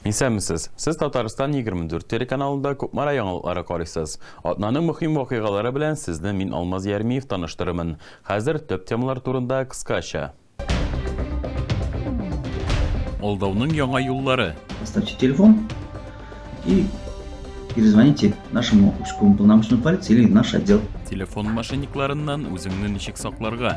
Исәнмесез! Сез Татарстан 24 телеканалында Кукмара яңалыклары карыйсыз. Атнаның мөһим вакыйгалары белән сезне мин Алмаз Ярмиев таныштырырмын. Хәзер төп темалар турында кыскача. Алдауның яңа юллары. Оставьте телефон и перезвоните нашему узкому полномоченному полиции или наш отдел. Телефон мошенникларыннан үзеңне ничек сакларга?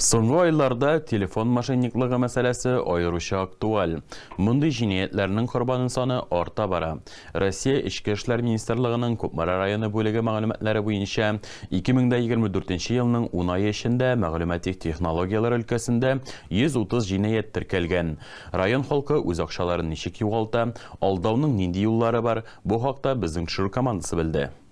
Соңгы айларда телефон мошенниклыгы мәсьәләсе аеруча актуаль. Мондый җинаятьләрнең корбаны саны арта бара. Россия Эчке эшләр министрлыгының Кукмара районы бүлеге мәгълүматлары буенча, 2024 елның ун ае эчендә мәгълүмати технологияләр өлкәсендә 130 җинаять теркәлгән. Район халкы үз акчаларын ничек югалта, алдауның нинди юллары бар, бу хакта безнең төшерү командасы белде.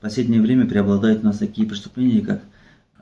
Последнее время преобладают у нас такие преступления, как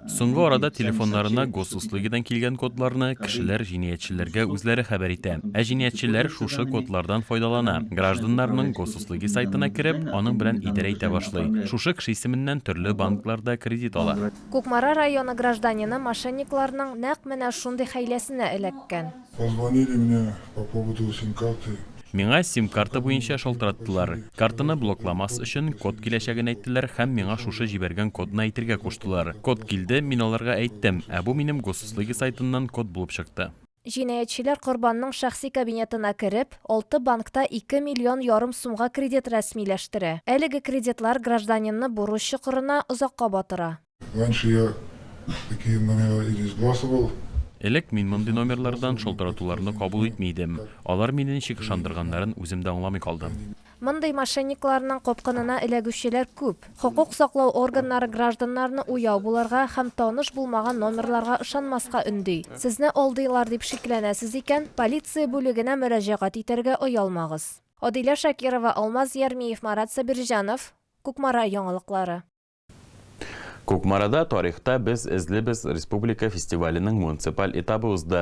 Соңгы арада телефоннарына госуслугидан килгән кодларны кешеләр җинаятьчеләргә үзләре хәбәр итә. Ә җинаятьчеләр шушы кодлардан файдалана. Гражданнарның госуслуги сайтына кереп, аның белән идарә итә башлый. Шушы кеше исеменнән төрле банкларда кредит ала. Кукмара районы гражданины мошенникларның нәкъ менә шундый хәйләсенә эләккән. Позвонили мне по поводу сим-карты. Миңа сим-карта буенча шалтыраттылар. Картаны блокламас өчен, код киләчәген әйттеләр һәм миңа шушы җибәргән кодны әйтергә куштылар. Код килде, мин аларга әйттем, ә бу минем госуслуги сайтыннан код булып чыкты. Җинаятьчеләр корбанның шәхси кабинетына кереп, алты банкта ике миллион ярым сумга кредит рәсмиләштерә. Әлеге кредитлар гражданинны бурыч чокырына озакка батыра. Раньше я такие номера и не сбрасывал. Элек мин мондый номерлардан шалтыратуларны кабул итми идем. Алар мине ничек ышандырганнарын үзем дә аңламый калдым. Мондый мошенникларның капкынына эләгүчеләр күп. Хокук саклау органнары гражданнарны уяу булырга һәм таныш булмаган номерларга ышанмаска өнди. Сезне алдыйлар дип шикләнәсез икән, полиция бүлегенә мөрәҗәгать итәргә оялмагыз. Адилә Шакирова, Алмаз Ярмиев, Марат Сабирҗанов, Кукмара яңалыклары. Кукмарада тарихта без эзлибез республика фестиваленең муниципаль этабы узды.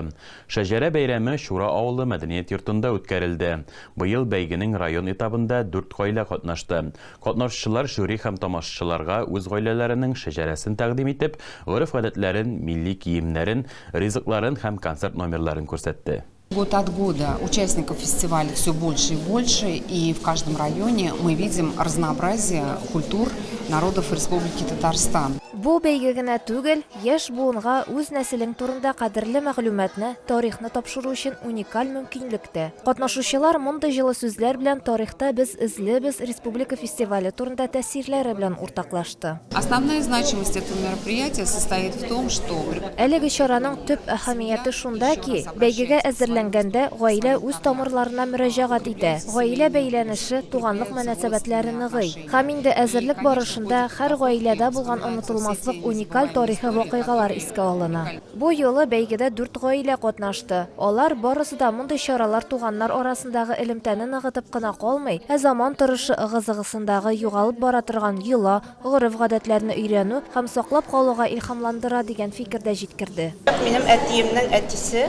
Шәҗәрә бәйрәме Чура авылы мәдәният йортында үткәрелде. Быел бәйгенең район этабында дүрт гаилә катнашты. Катнашчылар жюри һәм тамашачыларга үз гаиләләренең шәҗәрәсен тәкъдим итеп, гореф-гадәтләрен, милли киемнәрен, ризыкларын һәм концерт номерларын күрсәтте. Год от года участников фестиваля все больше и больше, и в каждом районе мы видим разнообразие культур народов Республики Татарстан. Бу бәйге генә түгел, яшь буынга үз нәселең турында кадерле мәгълүматны, тарихны тапшыру өчен уникаль мөмкинлек тә. Катнашучылар мондый җылы сүзләр белән тарихта без эзлебез республика фестивале турында тәэсирләре белән уртаклашты. чыкты. Основная значимость этого мероприятия состоит в том, что Әлеге чараның төп әһәмияте шунда ки, бәйгегә әзерләнгәндә гаилә үз тамырларына мөрәҗәгать итә, гаилә бәйләнеше, туганлык мөнәсәбәтләре ныгый. Һәм инде әзерлек барышында һәр гаиләдә булган онытылмаслык уникаль тарихи вакыйгалар искә алына. Бу юлы бәйгедә дүрт гаилә катнашты. Алар барысы да мондый чаралар туганнар арасындагы элемтәне ныгытып кына калмый, ә заман торышы ыгы-зыгысындагы югалып бара торган йола, гореф-гадәтләрне өйрәнү һәм саклап калуга илһамландыра, дигән фикер дә җиткерде. Минем әтиемнең әтисе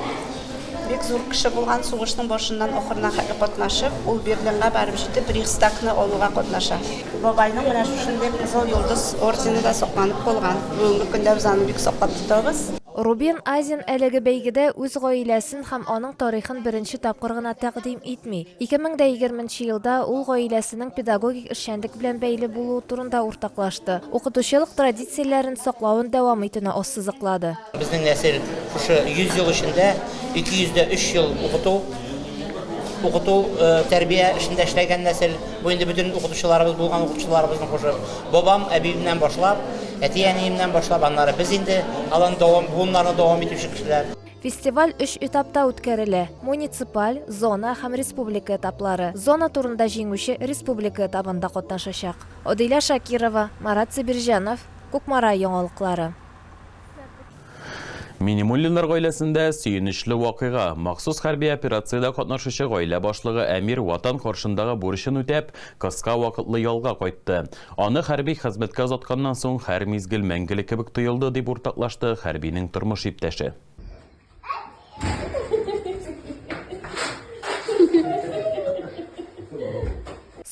бик зур кеше булган, сугышның башыннан ахырына хәтле катнашып, ул Берлинга барып җитеп, Рейхстагны алуга катнаша. Бабайның менә шушындый Кызыл Йолдыз ордены да сакланып калган. Бүгенге көндә без аны бик саклап тотабыз. Рубен Азин әлеге бәйгедә үз гаиләсен һәм аның тарихын беренче тапкыр гына тәкъдим итми. Ике мең дә егерме нче елда ул гаиләсенең педагогик эшчәнлек белән бәйле булуы турында уртаклашты, укытучылык традицияләрен саклавын дәвам итүне ассызыклады. Безнең нәсел шушы 100 ел эчендә 200 дә 3 ел укыту, укыту, тәрбия эшендә эшләгән нәсел. Бу инде бөтен укытучыларыбыз булган укытучыларыбызны кушып, бабам, әбиемнән башлап, әти-әниемнән башлап, аннары без инде алан дәвам, буыннарны дәвам итүче кешеләр. Фестиваль өч этапта үткәрелә, муниципаль, зона һәм республика этаплары. Зона турында җиңүче республика этабында катнашачак. Адилә Шакирова, Марат Сибирҗанов, Кукмара яңалыклары. Минемуллиннар гаиләсендә сөенечле вакыйга. Махсус хәрби операциядә катнашучы гаилә башлыгы Әмир Ватан каршындагы бурычын үтәп, кыска вакытлы ялга кайтты. Аны хәрби хезмәткә озатканнан соң һәр мизгел мәңгелек кебек тоелды, дип уртаклашты хәрбинең тормыш иптәше.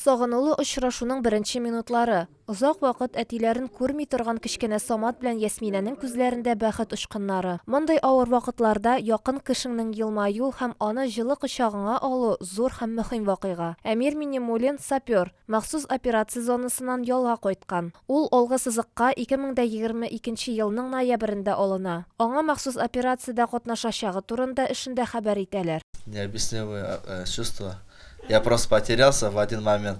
Сагынулы очрашуның беренче минутлары. Озак вакыт әтиләрен күрми торган кечкенә Самат белән Ясминәнең күзләрендә бәхет очкыннары. Мондый авыр вакытларда якын кешеңнең елмаю һәм аны җылы кочагыңа алу, зур һәм мөхим вакыйга. Әмир Минемуллин, сапер. Махсус операция зонасыннан ялга кайткан. Ул алгы сызыкка 2022 нче елның ноябрендә алына. Аңа махсус операциядә катнашачагы турында эшендә хәбәр итәләр. Необъяснимые чувства. Я просто потерялся в один момент.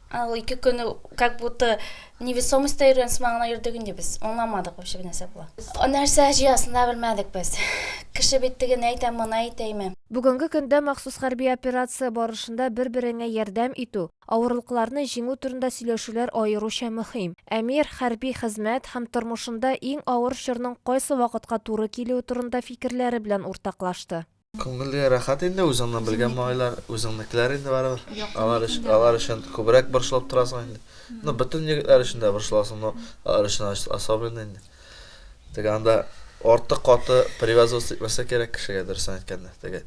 Ә ул ике көн как будто невесомостьта йөргән сыман гына йөрдек инде без. Аңламадык вообще бу нәрсә була. Нәрсә җыясын да белмәдек без. Кеше бит тегене әйтә, моны әйтәме? Бүгенге көндә махсус хәрби операция барышында бер-береңә ярдәм итү, авырлыкларны җиңү турында сөйләшүләр аеруча мөһим. Әмир, хәрби хезмәт һәм тормышында иң авыр чорның кайсы вакытка туры килүе турында фикерләре белән уртаклашты. Күңелгә рәхәт инде үзеңне белгән малайлар, үзеңнекеләр инде барыбер. Алар өчен, алар өчен күбрәк борчылып торасың инде. Ну, бөтен егетләр өчен дә борчыласың, но алар өчен особенно инде. Теге анда артык каты привязываться итмәсә кирәк кешегә, дөресен әйткәндә. Теге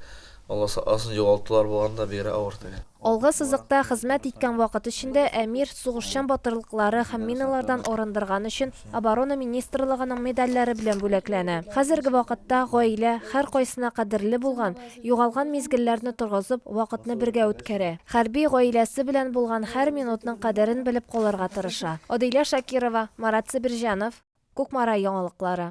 аласы асын югалтулар булганда бигрәк авыр теге. Алгы сызыкта хезмәт иткән вакыт эчендә Әмир сугышчан батырлыклары һәм миналардан арындырган өчен Оборона министрлыгының медальләре белән бүләкләнә. Хәзерге вакытта гаилә, һәркайсына кадерле булган, югалган мизгелләрне торгызып, вакытны бергә үткәрә. Хәрби гаиләсе белән булган һәр минутның кадерен белеп калырга тырыша. Адилә Шакирова, Марат Себерҗанов, Кукмара яңалыклары.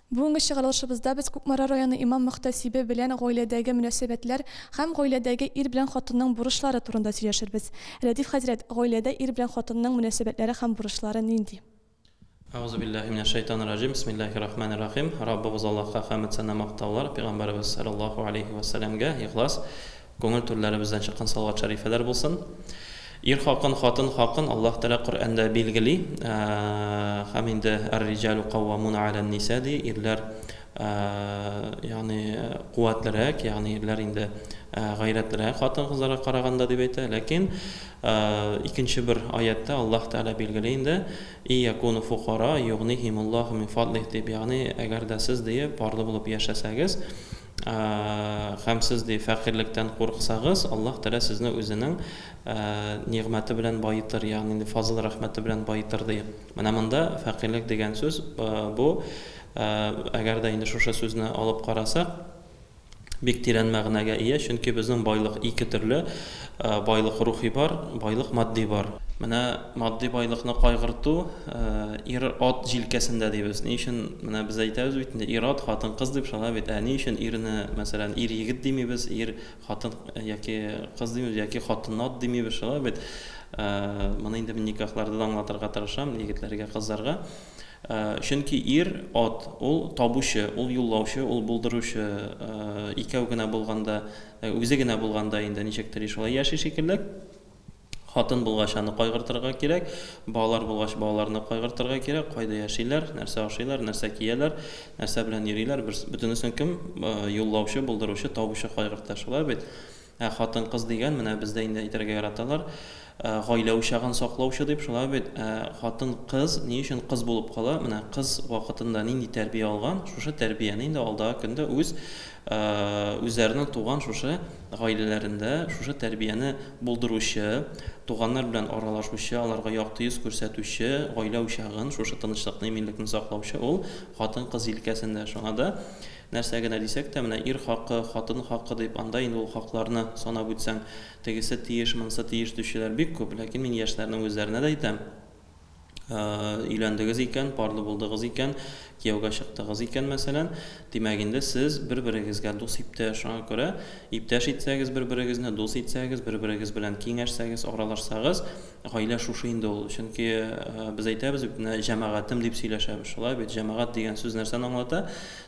Бүгенге чыгарылышыбызда без Кукмара районы имам-мөхтәсибе белән гаиләдәге мөнәсәбәтләр һәм гаиләдәге ир белән хатынның бурычлары турында сөйләшербез. Рәдиф хәзрәт, гаиләдә ир белән хатынның мөнәсәбәтләре һәм бурычлары нинди? Әгъузубиллаһи минәшшәйтанирраҗим, бисмиллаһиррахманиррахим. Раббыбыз Аллаһка хәмед-сана-мактаулар, пигамбәребез салләллаһу галәйһи вә сәләмгә ихлас Күңел түрләребездән чыккан салават шәрифәләр булсын. Ир хакын, хатын хакын Аллаһ Тәгалә Коръәндә билгели һәм инде Ар-риҗәлү кауамуна галән-ниса ди, ирләр ягъни куәтлерәк, ягъни ирләр инде гайрәтлерәк хатын-кызларга караганда дип әйтә. Ләкин икенче бер аятьтә Аллаһ Тәгалә билгели инде, И якуну фукара югнихимуллаһу мин фадлих дип, ягъни әгәр дә сез, ди, парлы булып яшәсәгез, Һәм сез, ди, фәкыйрьлектән курыксагыз, Аллаһ Тәгалә сезне Үзенең нигъмәте белән баетыр, ягъни инде фазыл-рәхмәте белән баетыр, ди. Менә монда фәкыйрьлек дигән сүз, бу, әгәр дә инде шушы сүзне алып карасак, бик тирән мәгънәгә ия, чөнки безнең байлык ике төрле, Байлык рухи бар, байлык матди бар. Менә матди байлыкны кайгырту ир-ат җилкәсендә дибез. Ни өчен менә без әйтәбез бит инде, ир-ат, хатын-кыз дип шулай бит. Ә ни өчен ирне, мәсәлән, ир-егет димибез, ир, хатын яки кыз димибез, яки хатын-ат димибез, шулай бит. Моны инде мин никахларда да аңлатырга тырышам егетләргә, кызларга. Чөнки ир, ат, ул табучы, ул юллаучы, ул булдыручы. Икәү генә булганда Үзе генә булганда инде ничектери шулай яши шикелле. Хатын булгач аны кайгыртырга кирәк, балалар булгач балаларны кайгыртырга кирәк, кайда яшиләр, нәрсә ашыйлар, нәрсә кияләр, нәрсә белән йөриләр, берс, бөтенесен кем юллаучы, булдыручы, табучы кайгырта, шулай бит? Ә хатын-кыз дигән, менә бездә инде әйтергә яраталар. Гаилә учагын саклаучы дип шулай бит, ә хатын кыз ни өчен кыз булып кала? Менә кыз вакытында нинди тәрбия алган, шушы тәрбияне инде алдагы көндә үз үзләренең туган шушы гаиләләрендә шушы тәрбияне булдыручы, туганнар белән аралашучы, аларга якты йөз күрсәтүче, гаилә учагын, шушы тынычлыкны, иминлекне саклаучы ул хатын кыз җилкәсендә. Шуңа да нәрсә генә дисәк тә, менә ир хакы, хатын хакы дип, анда инде ул хакларны санап үтсәң, Тегесе тиеш, монысы тиеш диючеләр бик күп. Ләкин мин яшьләрнең үзләренә дә әйтәм, өйләндегез икән, парлы булдыгыз икән, кияүгә чыктыгыз икән, мәсәлән, димәк инде сез бер-берегезгә дус иптәш. Шуңа күрә иптәш итсәгез бер-берегезне, дус итсәгез, бер-берегез белән киңәшсәгез, аралашсагыз, гаилә шушы инде ул. Чөнки без әйтәбез бит, менә җәмәгатем дип сөйләшәбез. Шулай бит, җәмәгать дигән сүз нәрсәне аңлата?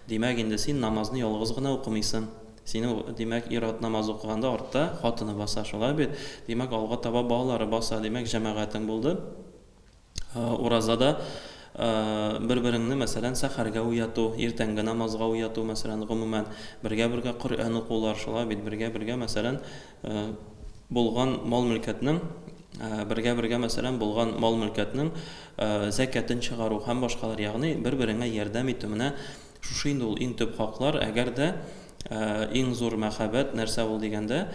Димәк инде син намазны ялгыз гына укымыйсың. Синең, димәк, ир-ат намаз укыганда артта хатыны баса, шулай бит? Димәк, алга таба балалары баса, димәк, җәмәгатең булды. Уразада бер-береңне, мәсәлән, сәхәргә уяту, иртәнге намазга уяту, мәсәлән, гомумән, бергә-бергә Коръән укулар, шулай бит, бергә-бергә, мәсәлән, булган мал-мөлкәтнең, бергә-бергә, мәсәлән, булган мал-мөлкәтнең зәкятен чыгару һәм башкалар, ягъни бер-береңә ярдәм итү, менә Шушы инде ул иң төп хаклар, әгәр дә иң зур мәхәббәт нәрсә ул дигәндә,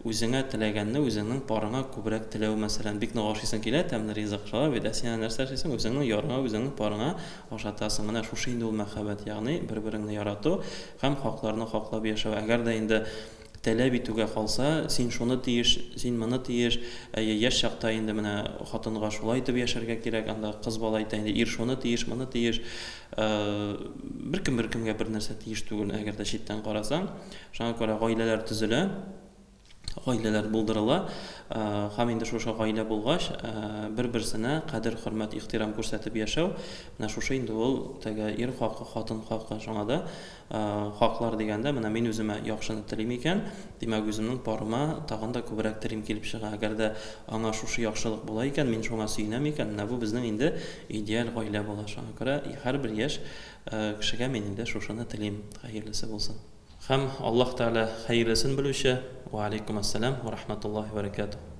үзеңә теләгәнне үзеңнең парыңа күбрәк теләү, мәсәлән, бик нык ашыйсың килә тәмле ризык, шулай бит, ә син әнә нәрсә эшлисең, үзеңнең ярыңа, үзеңнең парыңа ашатасың, менә шушы инде ул мәхәббәт, ягъни бер-береңне ярату һәм хакларны хаклап яшәү, әгәр дә инде Таләп итүгә калса, син шуны тиеш, син моны тиеш, әйе, яшь чакта инде менә хатынга шулай итеп яшәргә кирәк, анда кыз бала әйтә инде, ир шуны тиеш, моны тиеш. Беркем беркемгә бернәрсә тиеш түгел, әгәр дә читтән карасаң. Шуңа күрә гаиләләр төзелә, гаиләләр булдырыла. Һәм инде шушы гаилә булгач, бер-берсенә кадер, хөрмәт, ихтирам күрсәтеп яшәү, менә шушы инде ул теге ир хакы, хатын хакы. Шуңа да Хаклар дигәндә, менә мин үземә яхшыны телим икән, димәк, үземнең парыма тагын да күбрәк телим килеп чыга. Әгәр дә аңа шушы яхшылык була икән, мин шуңа сөенәм икән, менә бу безнең инде идеаль гаилә була. Шуңа күрә һәрбер яшь кешегә мин инде шушыны телим, хәерлесе булсын. Һәм Аллаһ Тәгалә хәерлесен белүче. Вә алейкумәссәлам вә рахмәтуллаһи вә бәрәкәтүһ.